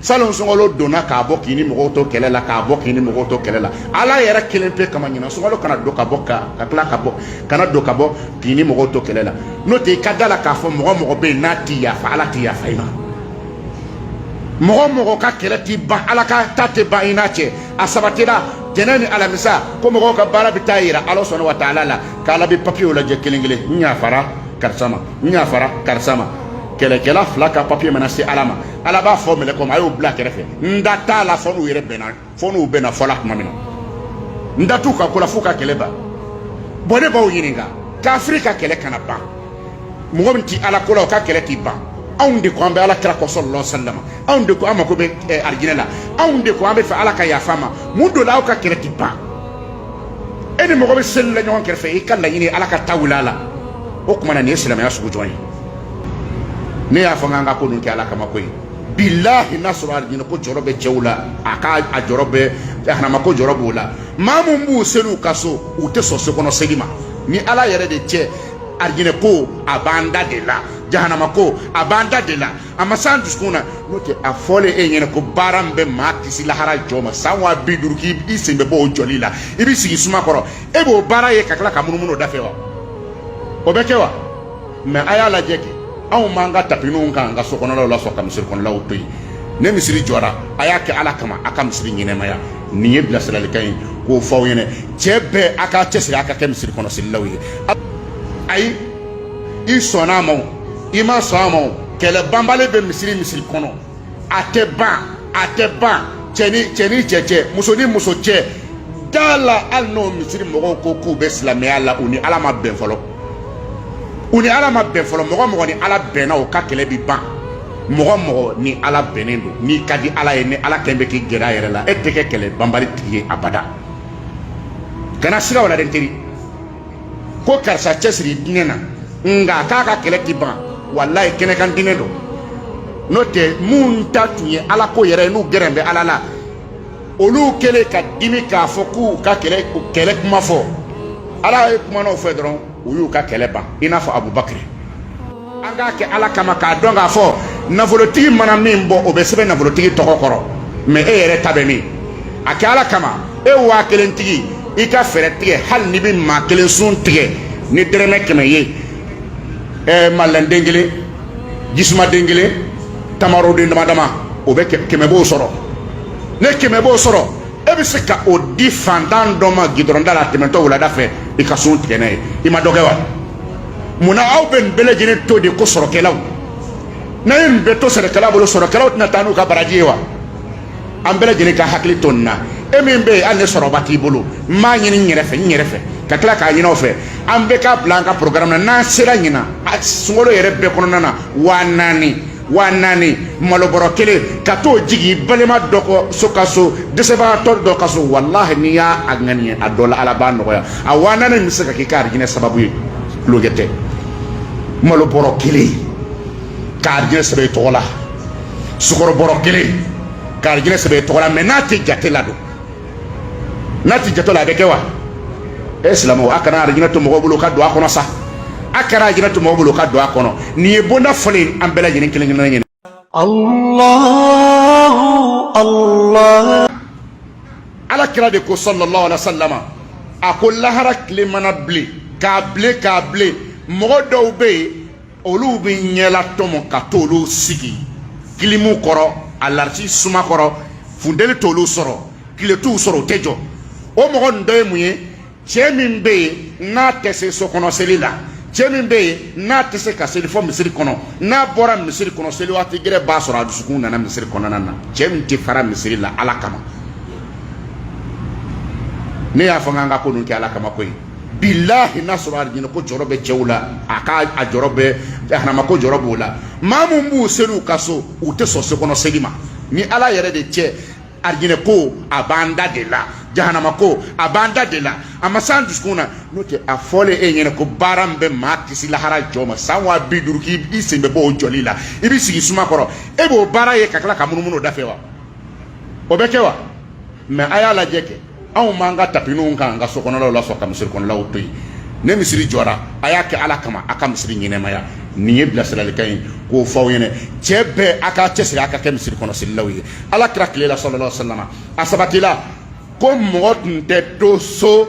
salon sunkalo donna ka bɔ k'i ni mɔgɔw to kɛlɛ la ka bɔ k'i ni mɔgɔw to kɛlɛ la ala yɛrɛ kelen pe kama ɲinan sunkalo kana don ka bɔ ka ka tila ka bɔ kana don ka bɔ k'i ni mɔgɔw to kɛlɛ la n'o tɛ i ka da la k'a fɔ mɔgɔ mɔgɔ bɛ yen n'a ti yafa ala ti yafa i ma mɔgɔ mɔgɔ ka kɛlɛ ti ban ala ka ta tɛ ban i n'a cɛ a sabatira tɛnɛ ni alamisa ko mɔgɔw ka baara bɛ taa yira ala subahana wa taala la k'ala bɛ papiyew lajɛ kelen kelen n yafara karisa ma n yafara karisa ma kɛlɛkɛla fila ka papiye mana se ala ma ala b'a fɔ mɛlɛkɛw ma a y'o bila kɛrɛfɛ n da t'a la fɔ n'u yɛrɛ bɛnna fɔ n'u bɛnna fɔla tuma min na n da t'u ka ko la f'u ka kɛlɛ ban bɔn ne b'aw ɲininka kafiri ka kɛlɛ kana ban mɔgɔ min ti ala ko la o ka kɛlɛ ti ban anw de ko an bɛ ala kira kɔ sallallahu alaihi wasallam anw de ko an mako bɛ eh, arijinɛ la anw de ko an b'a fɛ ala ka yafa an ma mun don la aw ka kɛlɛ ti ban e ni mɔgɔ bɛ seli la ɲɔgɔn kɛrɛfɛ i ka laɲini ala ka ta wuli a la o tuma na nin ye silamɛya sugu jɔn ye ne y'a fɔ n k'an ka ko nin kɛ ala kama ko ye bilahi n'a sɔrɔ alijinɛ ko jɔrɔ bɛ cɛw la a ka a jɔrɔ bɛ jahanama ko jɔrɔ b'o la maa mun b'u seli u ka so u tɛ sɔn so kɔnɔ seli ma ni ala yɛrɛ de cɛ alijinɛ ko a b'an da de la jahanama ko a b'an da de la a ma s'an dusukun na n'o tɛ a fɔlen e ɲɛna ko baara min bɛ maa kisi lahara jɔ ma san waa bi duuru k'i sen bɛ bɔ o jɔli la i bɛ sigi suma kɔrɔ e b'o baara ye ka tila ka munumunu o da fɛ wa o bɛ kɛ wa mɛ a y'a lajɛ kɛ anw b'an ka tapininw kan an ka so kɔnɔlaw la sɔn ka misiri kɔnɔlaw to yen ni misiri jɔra a y'a kɛ ala kama a ka misiri ɲɛnamaya nin ye bilasiralikan ye k'o fɔ aw ɲɛna cɛ bɛɛ a k'a cɛsiri a ka kɛ misiri kɔnɔ selilaw ye ayi i sɔnna a ma o i ma sɔn a ma o kɛlɛ banbali bɛ misiri misiri kɔnɔ a tɛ ban a tɛ ban cɛ ni cɛ ni cɛ cɛ muso ni muso cɛ da la hali n'o misiri mɔgɔw ko k'u bɛ silamɛya la u ni ala ma bɛn fɔlɔ u ni ala ma bɛn fɔlɔ mɔgɔ mɔgɔ ni ala bɛnna o ka kɛlɛ bi ban mɔgɔ mɔgɔ ni ala bɛnnen don n'i ka di ala ye ni ala kɛn bɛ k'i gɛrɛ a yɛrɛ la e tɛ kɛ kɛlɛ banbali tigi ye abada kana siga o la dɛ n teri ko karisa cɛsiri diinɛ na nka k'a ka kɛlɛ ti ban walayi kɛnɛkan diinɛ don n'o tɛ minnu ta tun ye ala ko yɛrɛ ye n'u gɛrɛn bɛ ala la olu kɛlen ka dimi k'a fɔ k'u ka kɛlɛ kɛlɛ kuma fɔ ala ye kumana u fɛ dɔrɔn u y'u ka kɛlɛ ban i n'a fɔ abubakiri an k'a kɛ ala kama k'a dɔn k'a fɔ nafolotigi mana min bɔ o bɛ sɛbɛn nafolotigi tɔgɔ kɔrɔ mɛ e yɛrɛ ta bɛ min a kɛ ala kama e waa kelen tigi i ka fɛɛrɛ tigɛ hali n'i bɛ maa kelen sun tigɛ ni dɛrɛmɛ kɛmɛ ye ɛɛ malɛnden kelen jisumaden kelen tamaroden dama dama o bɛɛ kɛmɛ b'o sɔrɔ ni kɛmɛ b'o sɔrɔ e bɛ se ka o di fantan dɔ ma gidɔrɔn da la tɛmɛtɔ wulada fɛ i ka sun tigɛ n'a ye i ma dɔ kɛ wa mun na aw bɛ nin bɛɛ lajɛlen to de ko sɔrɔkɛlaw n'a ye nin bɛɛ to sɔrɔkɛla bolo sɔrɔkɛlaw tɛna taa n'u ka baraji ye wa an bɛɛ lajɛlen ka hakili to nin na e min bɛ yen hali ni sɔrɔba t'i bolo n b'a ɲini n yɛrɛ fɛ n yɛrɛ fɛ ka tila k'a ɲini aw fɛ an bɛɛ k'a bila an ka programme na n'an sera ɲina sunkalo yɛrɛ bɛɛ kɔnɔna na waa naani waa naani malobɔrɔ kelen ka t'o jigi balima dɔ kɔ so ka so dɛsɛbagatɔ dɔ ka so walahi n'i y'a a ŋaniya a dɔ la ala b'a nɔgɔya a waa naani nin bɛ se ka k'i ka arijinɛ sababu ye tulonkɛ tɛ malobɔrɔ kelen ka arijinɛ sɛbɛn i tɔgɔ la sukɔrɔbɔrɔ kelen ka arijinɛ sɛbɛn i tɔgɔ la mɛ n'a tɛ jate la don n'a t'i jate la a bɛ kɛ wa e silamɛw a kana arijinɛ to mɔgɔw bolo ka don a kɔnɔ sa a kana arijinɛ to mɔgɔw bolo ka don a kɔnɔ nin ye bonda fɔlɔ ye an bɛɛ lajɛlen kelen kelen ɲɛna ala kira de ko sallallahu alaihi wasallam a ko lahara tile mana bilen k'a bilen k'a bilen mɔgɔ dɔw bɛ yen olu bɛ ɲɛlatɔmɔ ka t'olu sigi kilimu kɔrɔ alarisi suma kɔrɔ funteni t'olu sɔrɔ tile t'u sɔrɔ u tɛ jɔ o mɔgɔ ninnu dɔ ye mun ye cɛ min bɛ yen n'a tɛ se so kɔnɔ seli la cɛ min bɛ yen n'a tɛ se ka seli fɔ misiri kɔnɔ n'a bɔra misiri kɔnɔ seli waati gɛrɛ b'a sɔrɔ a dusukun nana misiri kɔnɔna na cɛ min tɛ fara misiri la ala kama ne y'a fɔ n k'an ka ko ninnu kɛ ala kama koyi bilahi n'a sɔrɔ arijinɛ ko jɔrɔ bɛ cɛw la a ka a jɔrɔ bɛ jahanama ko jɔrɔ b'o la maa min b'u seli u ka so u tɛ sɔn sokɔnɔ seli ma ni ala yɛrɛ de cɛ arijinɛ ko a b'an da de la jahanama ko a b'an da de la a ma s'an dusukun na n'o tɛ a fɔlen e ɲɛna ko baara min bɛ maa kisi lahara jɔ ma san waa bi duuru k'i sen bɛ bɔ o jɔli la i bɛ sigi suma kɔrɔ e b'o baara ye ka tila ka munumunu o da fɛ wa o bɛ kɛ wa mɛ a y'a lajɛ kɛ anw b'an ka tapininw kan an ka so kɔnɔlaw la sɔn ka misiri kɔnɔlaw to yen ni misiri jɔra a y'a kɛ ala kama a ka misiri ɲɛnamaya nin ye bilasiralikan ye k'o fɔ aw ɲɛna cɛ bɛɛ a k'a cɛsiri a ka kɛ misiri kɔnɔ selilaw ye ala kira tile la sallallahu alaihi wasallam a sabatila ko mɔgɔ tun tɛ to so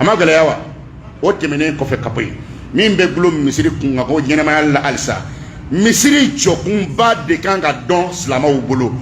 a ma gɛlɛya wa o tɛmɛnen kɔfɛ ka bɔ yen min bɛ gulo misiri kunkanko ɲɛnamaya la halisa misiri jɔkunba de kan ka dɔn silamɛw bolo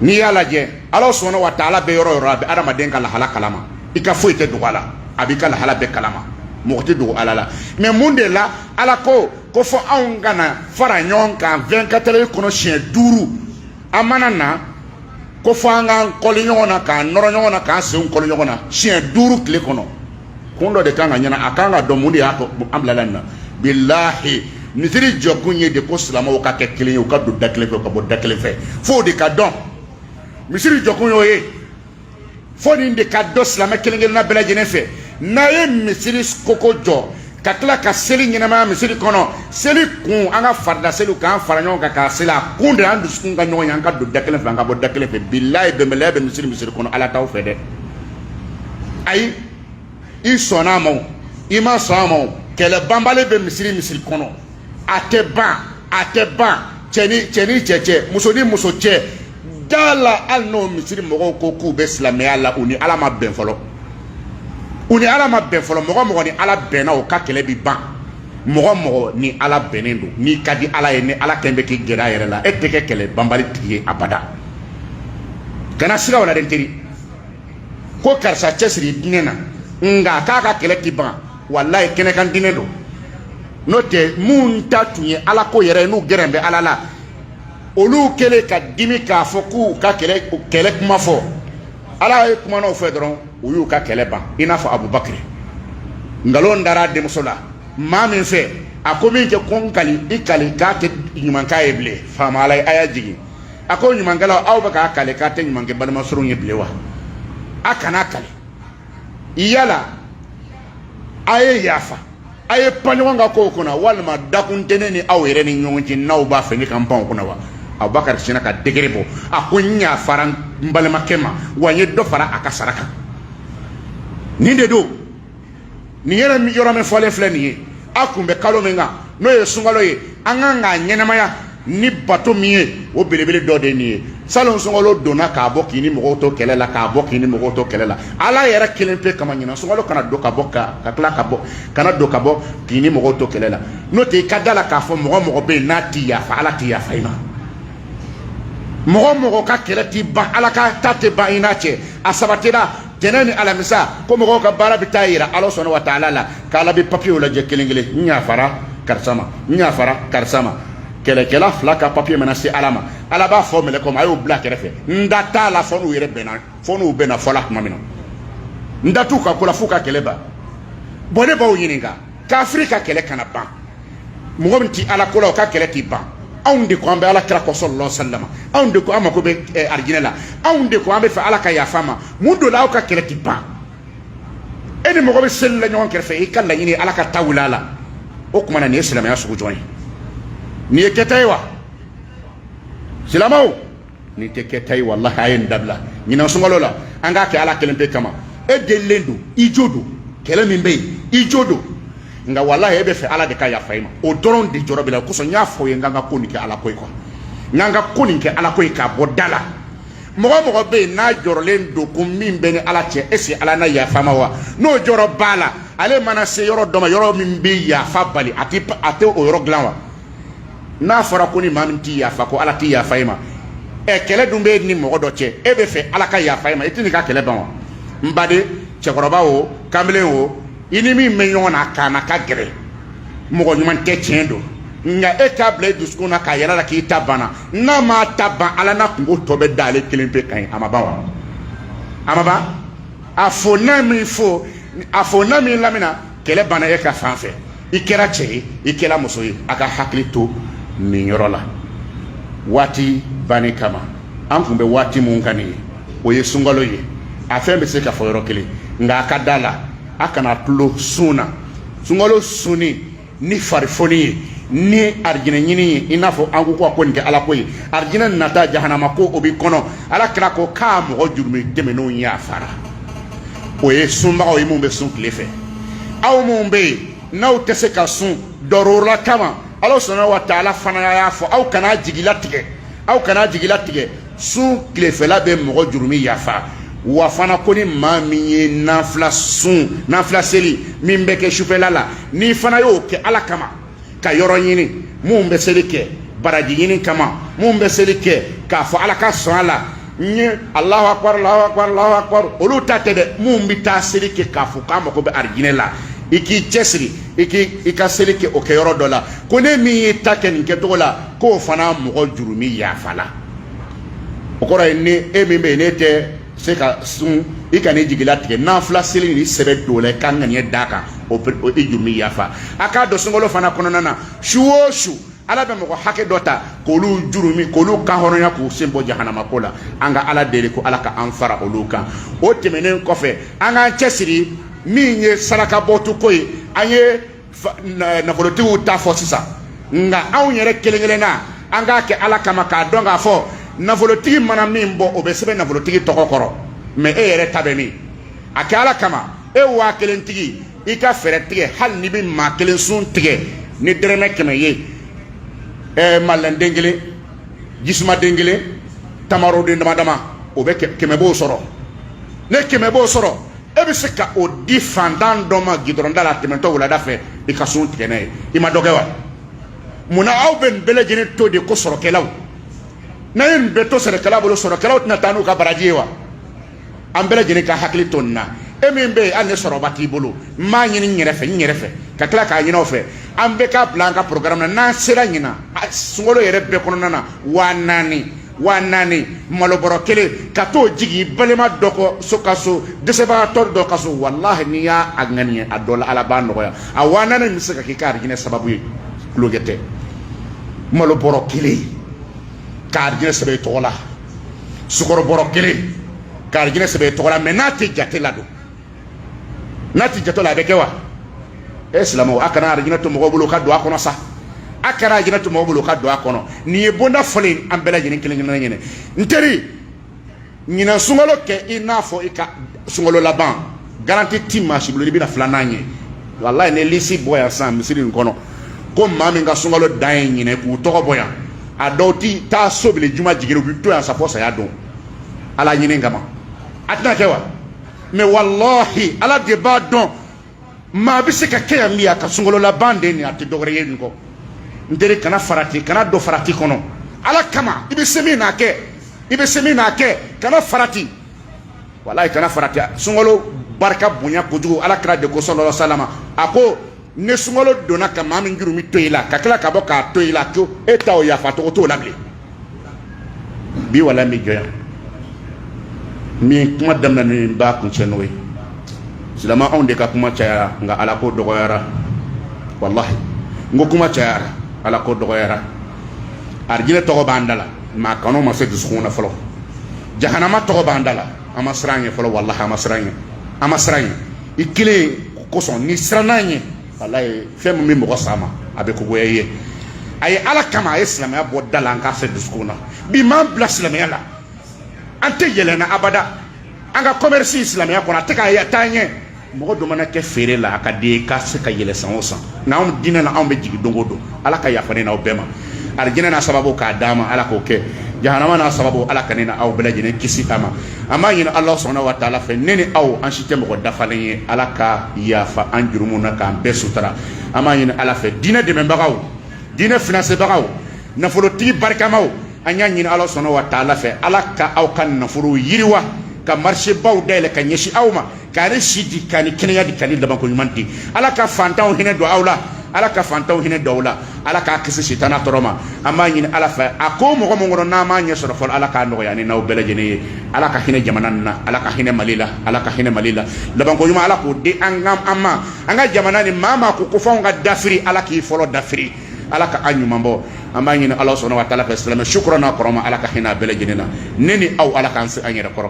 n'i y'a lajɛ ala subhanahu wa taala bɛ yɔrɔ yɔrɔ a bɛ adamaden ka lahala kalama i ka foyi tɛ dogo a la a b'i ka lahala bɛɛ kalama mɔgɔ tɛ dogo ala la mɛ mun de la ala ko ko fɔ anw ka na fara ɲɔgɔn kan 24 heures kɔnɔ siɲɛ duuru an mana na ko fɔ an k'an kɔli ɲɔgɔn na k'an nɔrɔ ɲɔgɔn na k'an senw kɔli ɲɔgɔn na siɲɛ duuru tile kɔnɔ kun dɔ de kan ka ɲɛna a kan ka dɔn mun de y'a to an bilala nin na bilahi misiri jɔkun ye de ko silamɛw ka kɛ kelen ye u ka don da kelen fɛ u ka bɔ da kelen fɛ f'o de ka dɔn misiri jɔkun y'o ye fo nin de ka dɔn silamɛ kelen kelenna bɛɛ lajɛlen fɛ n'a ye misiri koko jɔ ka tila ka seli ɲɛnamaya misiri kɔnɔ seli kun an ka farida seliw k'an fara ɲɔgɔn kan k'a seli a kun de an dusukun ka ɲɔgɔn ye an ka don da kelen fɛ an ka bɔ da kelen fɛ bilayi bɛnbaliya bɛ misiri misiri kɔnɔ ala t'aw fɛ dɛ ayi i sɔnna a ma o i ma sɔn a ma o kɛlɛ banbali bɛ misiri misiri kɔnɔ a tɛ ban a tɛ ban cɛ ni cɛ ni cɛ cɛ muso ni muso cɛ da la hali n'o misiri mɔgɔw ko k'u bɛ silamɛya la u ni ala ma bɛn fɔlɔ u ni ala ma bɛn fɔlɔ mɔgɔ mɔgɔ ni ala bɛnna o ka kɛlɛ bi ban mɔgɔ mɔgɔ ni ala bɛnnen don n'i ka di ala ye ni ala kɛn bɛ k'i gɛrɛ a yɛrɛ la e tɛ kɛ kɛlɛ banbali tigi ye abada kana siga o la dɛ n teri ko karisa cɛsiri diinɛ na nka k'a ka kɛlɛ ti ban walayi kɛnɛkan diinɛ don n'o tɛ minnu ta tun ye ala ko yɛrɛ ye n'u gɛrɛn bɛ ala la olu kɛlen ka dimi k'a fɔ k'u ka kɛlɛ kɛlɛ kuma fɔ ala ye kuma n'o fɛ dɔrɔn u y'u ka kɛlɛ ban i n'a fɔ abubakiri nkalon dara denmuso la maa min fɛ a ko min kɛ ko n kali i kali k'a tɛ ɲuman k'a ye bilen faama ala ye aya jigin a ko ɲumankɛlaw aw bɛ ka kali k'a tɛ ɲuman kɛ balimasurunw ye bilen wa a kana kali yala a ye yafa a ye pan ɲɔgɔn ka kow kunna walima dakun tɛ ne ni aw yɛrɛ ni ɲɔgɔn cɛ n'aw b'a fɛ ne ka n pan o kunna wa abubakari sinna ka degere bɔ a ko n yafara n balimakɛ ma wa n ye dɔ fara a ka sara kan nin de don nin yɛrɛ yɔrɔ min fɔlen filɛ nin ye a kun bɛ kalo min kan n'o ye sunkalo ye an kan k'a ɲɛnamaya ni bato min ye o belebele dɔ de ye nin ye salon sunkalo donna ka bɔ k'i ni mɔgɔw to kɛlɛ la ka bɔ k'i ni mɔgɔw to kɛlɛ la ala yɛrɛ kelen pe kama ɲinan sunkalo kana don ka bɔ ka ka tila ka bɔ kana don ka bɔ k'i ni mɔgɔw to kɛlɛ la n'o tɛ i ka da la k'a fɔ mɔgɔ mɔgɔ bɛ yen n'a ti yafa ala ti yafa i ma mɔgɔ mɔgɔ ka kɛlɛ ti ban ala ka ta tɛ ban i n'a cɛ a sabatira tɛnɛ ni alamisa ko mɔgɔw ka baara bɛ taa yira ala subuhana wa taala la k'ala bɛ papiyew lajɛ kelen kelen n yafara karisa ma n yafara karisa ma kɛlɛkɛla fila ka papiye mana se ala ma ala b'a fɔ mɛlɛkɛw ma a y'o bila kɛrɛfɛ n da t'a la fɔ n'u yɛrɛ bɛnna fɔ n'u bɛnna fɔ la tuma min na n da t'u ka ko la f'u ka kɛlɛ ban bɔn ne b'aw ɲininka kafiri ka kɛlɛ kana ban mɔgɔ min ti ala ko la o ka kɛlɛ t'i ban anw de ko an bɛ ala kira kɔ salalahu wa salama anw de ko an mako bɛ eh, arijinɛ la anw de ko an b'a fɛ ala ka yafa an ma mun do la aw ka kɛlɛ ti ban e ni mɔgɔ bɛ seli la ɲɔgɔn kɛrɛfɛ i ka laɲini ala ka ta wuli a la o tuma na nin ye silamɛya sugu jɔn ye nin ye kɛta ye wa silamaw nin tɛ kɛta ye walahi a ye nin dabila ɲinan sunkalo la an k'a kɛ ala kelen pe kama e delilen don i jo don kɛlɛ min bɛ yen i jo don nka walahi e bɛ fɛ ala de ka yafa i ma o dɔrɔn de jɔrɔ b'i la o kosɔn n y'a fɔ ye n k'an ka ko nin kɛ ala ko ye kuwa n k'an ka ko nin kɛ ala ko ye k'a bɔ da la mɔgɔ mɔgɔ bɛ yen n'a jɔrɔlen don ko min b'a ni ala cɛ est-ce que ala na yafa a ma wa n'o jɔrɔ b'a la ale mana se yɔrɔ dɔ ma yɔrɔ min bɛ yafa bali a tɛ o yɔrɔ dilan wa n'a fɔra ko ni maa min tɛ yafa ko ala tɛ yafa i ma ɛ kɛlɛ dun b'i ni mɔgɔ dɔ cɛ e bɛ fɛ ala ka yafa i ma i tɛ n'i ka kɛlɛ ban wa n baden cɛkɔrɔba o kamalen o i ni min bɛ ɲɔgɔn na k'a na ka gɛrɛ mɔgɔ ɲuman tɛ tiɲɛ don nka e k'a bila i dusukun na k'a yira ala la k'i ta banna n'a m'a ta ban ala n'a kunko tɔ bɛɛ da ale kelen pe kan ye a ma ban wa a ma ban a fo n'a m'i fo a fo n'a m'i lamina kɛlɛ banna e ka fan fɛ i kɛra cɛ ye i kɛra muso ye a ka hakili to nin yɔrɔ la waati banni kama an kun bɛ waati mun kan nin ye o ye sunkalo ye a fɛn bɛ se ka fɔ yɔrɔ kelen nka a ka da la a kana tulon sun na sunkalo sunni ni farifoni ye ni arijinɛ ɲini ye i n'a fɔ an ko ko ko nin kɛ ala ko ye arijinɛ nata jahanama ko o b'i kɔnɔ ala kira ko k'a mɔgɔ jurumi tɛmɛnenw yafara o ye sunbagaw ye minnu bɛ sun tile fɛ aw minnu bɛ yen n'aw tɛ se ka sun dɔrɔla kama ala subhana wa taala fana y'a fɔ aw kana jigilatigɛ aw kana jigilatigɛ sun tilefɛla bɛ mɔgɔ jurumi yafa wa fana ko ni maa min ye nafila sun nafila seli min bɛ kɛ sufɛla la n'i fana y'o kɛ ala kama ka yɔrɔ ɲini minnu bɛ seli kɛ baraji ɲini kama minnu bɛ seli kɛ k'a fɔ ala ka sɔn a la n ye alahu akbar alahu akbar alahu akbar olu ta tɛ dɛ minnu bɛ taa seli kɛ k'a fɔ k'a mago bɛ arijinɛ la i k'i cɛsiri i k'i ka seli kɛ o kɛyɔrɔ dɔ la ko ni min y'i ta kɛ nin kɛcogo la k'o fana mɔgɔ jurumi yafala o kɔrɔ ye ni e min bɛ yen n'e tɛ se ka sun i kan'i jigilatigɛ nafila seli n'i sɛbɛ don a la i ka ŋaniya d'a kan o i jurumi yafa a k'a dɔn sunkalo fana kɔnɔna na su o su ala bɛ mɔgɔ hakɛ dɔ ta k'olu jurumi k'olu kanhɔrɔnya k'u sen bɔ jahanama ko la an ka ala deli ko ala ka an fara olu kan o tɛmɛnen kɔfɛ an k'an cɛsiri min ye sarakabɔtu ko ye an ye nafolotigiw ta fɔ sisan nka anw yɛrɛ kelen kelenna an k'a kɛ ala kama k'a dɔn k'a fɔ nafolotigi mana min bɔ o bɛ sɛbɛn nafolotigi tɔgɔ kɔrɔ mɛ e yɛrɛ ta bɛ min a kɛ ala kama e waa kelen tigi i ka fɛɛrɛ tigɛ hali n'i bɛ maa kelen sun tigɛ ni dɛrɛmɛ kɛmɛ ye ɛɛ madeleine den kelen jisumaden kelen tamaroden dama dama o bɛ kɛmɛ b'o sɔrɔ ni kɛmɛ b'o sɔrɔ e bɛ se ka o di fantan dɔ ma gidɔrɔn da la tɛmɛtɔ wulada fɛ i ka sun tigɛ n'a ye i ma dɔ kɛ wa munna aw bɛ nin bɛɛ lajɛlen to de ko sɔrɔkɛlaw n'a ye nin bɛɛ to sɔrɔkɛlaw bolo sɔrɔkɛlaw tɛna taa n'u ka baraji ye wa an bɛɛ lajɛlen ka hakili to nin na e min bɛ yen hali ni sɔrɔba t'i bolo n b'a ɲini n yɛrɛ fɛ n yɛrɛ fɛ ka tila k'a ɲini aw fɛ an bɛɛ k'a bila an ka programme na n'an sera ɲinan sunkalo yɛrɛ bɛɛ kɔnɔna na waa naani waa naani malobɔrɔ kelen ka t'o jigin balima dɔ kɔ so ka so dɛsɛbagatɔ dɔ ka so walahi n'i y'a ŋaniya a dɔ la ala b'a nɔgɔya a waa naani bɛ se ka k'i ka arijinɛ sababu ye tulonkɛ tɛ malobɔrɔ kelen ka arijinɛ sɛbɛn i tɔgɔ la sukɔrɔbɔrɔ kelen ka arijinɛ sɛbɛn i tɔgɔ la mɛ n'a tɛ jate la don n'a ti jate la a bɛ kɛ wa e silamɛw a kana arijinɛ to mɔgɔw bolo ka don a kɔnɔ sa a kana arijinɛ to mɔgɔw bolo ka don a kɔnɔ nin ye bonda fɔlen an bɛɛ lajɛlen kelen kelenna ɲɛnɛ n teri ɲinan sunkalo kɛ i n'a fɔ i ka sunkalo laban garanti ti maa si bolo i bɛna filanan ye walayi ni lisi bɔ yan sisan misiri nin kɔnɔ ko maa min ka sunkalo dan ye ɲinan k'u tɔgɔ bɔ yan a dɔw ti taa so bilen juma jigin u bi to yan sa fɔ saya don ala ɲini kama a tɛna kɛ wa mɛ walahi ala de b'a dɔn maa bɛ se ka kɛ yan min a ka sunkalo laban de nin a tɛ dɔwɛrɛ ye nin kɔ n teri kana farati kana don farati kɔnɔ ala kama i bɛ se min n'a kɛ i bɛ se min n'a kɛ kana farati walayi kana farati sunkalo barika bonya kojugu ala kira de ko sallallahu alaihi wasallam a ko ni sunkalo donna ka maa min jurumu to i la ka tila ka bɔ k'a to i la ko e ta o yafa tɔgɔ t'o la bilen bi wala n bɛ jɔ yan min kuma daminɛ ni b'a kuncɛ n'o ye silama anw de ka kuma cayara nka ala ko dɔgɔyara walahi n ko kuma cayara ala ko dɔgɔyara arijinɛ tɔgɔ b'an da la mɛ a kanu ma se dusukun na fɔlɔ jahanama tɔgɔ b'an da la an ma siran ɲɛ fɔlɔ walahi an ma siran ɲɛ i kelen kosɔn n'i siranna ɲɛ walayi fɛn min bɛ mɔgɔ sama a bɛ ko goya i ye a ye ala kama a ye silamɛya bɔ da la an k'a se dusukun na bi m'an bila silamɛya la an tɛ yɛlɛn na abada an ka kɔmɛrisi silamɛya kɔnɔ a tɛ ka taa ɲɛ mɔgɔ dɔ mana kɛ feere la a ka di i ye k'a se ka yɛlɛ san o san nka anw diinɛ na anw bɛ jigin don o don ala ka yafa ne n'aw bɛɛ ma arijinɛ n'a sababu k'a d'an ma ala k'o kɛ jahanama n'a sababu ala ka ne n'aw bɛɛ lajɛlen kisi a ma an b'a ɲini ala subhana wa taala fɛ ne ni aw an si tɛ mɔgɔ dafalen ye ala ka yafa an jurumu na k'an bɛɛ sutura an b'a ɲini ala fɛ diinɛ dɛmɛbagaw diinɛ finansebagaw nafolotigi barikamaw an y'a ɲini ala subhana wa taala fɛ ala ka aw ka nafolo yiriwa ka marisebaw dayɛlɛ ka ɲɛsin aw ma k'a ni si di k'a ni kɛnɛya di k'a ni labanko ɲuman di ala ka fantanw hinɛ don aw la ala ka fantanw hinɛ don aw la ala k'a kisi sitana tɔɔrɔ ma an b'a ɲini ala fɛ a ko mɔgɔ min kɔnɔ n'an m'a ɲɛ sɔrɔ fɔlɔ ala k'a nɔgɔya ne n'aw bɛɛ lajɛlen ye ala ka hinɛ jamana nin na ala ka hinɛ mali la ala ka hinɛ mali la labanko ɲuman ala k'o di an ka an ma an ka jamana nin maa maa ko ko f'anw ka dafiri ala k'i fɔlɔ dafiri ala ka an ɲuman bɔ an b'a ɲini ala subhanahu wa taala fɛ silamɛ su kura n'a kɔrɔma ala ka hinɛ a bɛɛ lajɛlen na ne ni aw ala k'an se an yɛrɛ kɔrɔ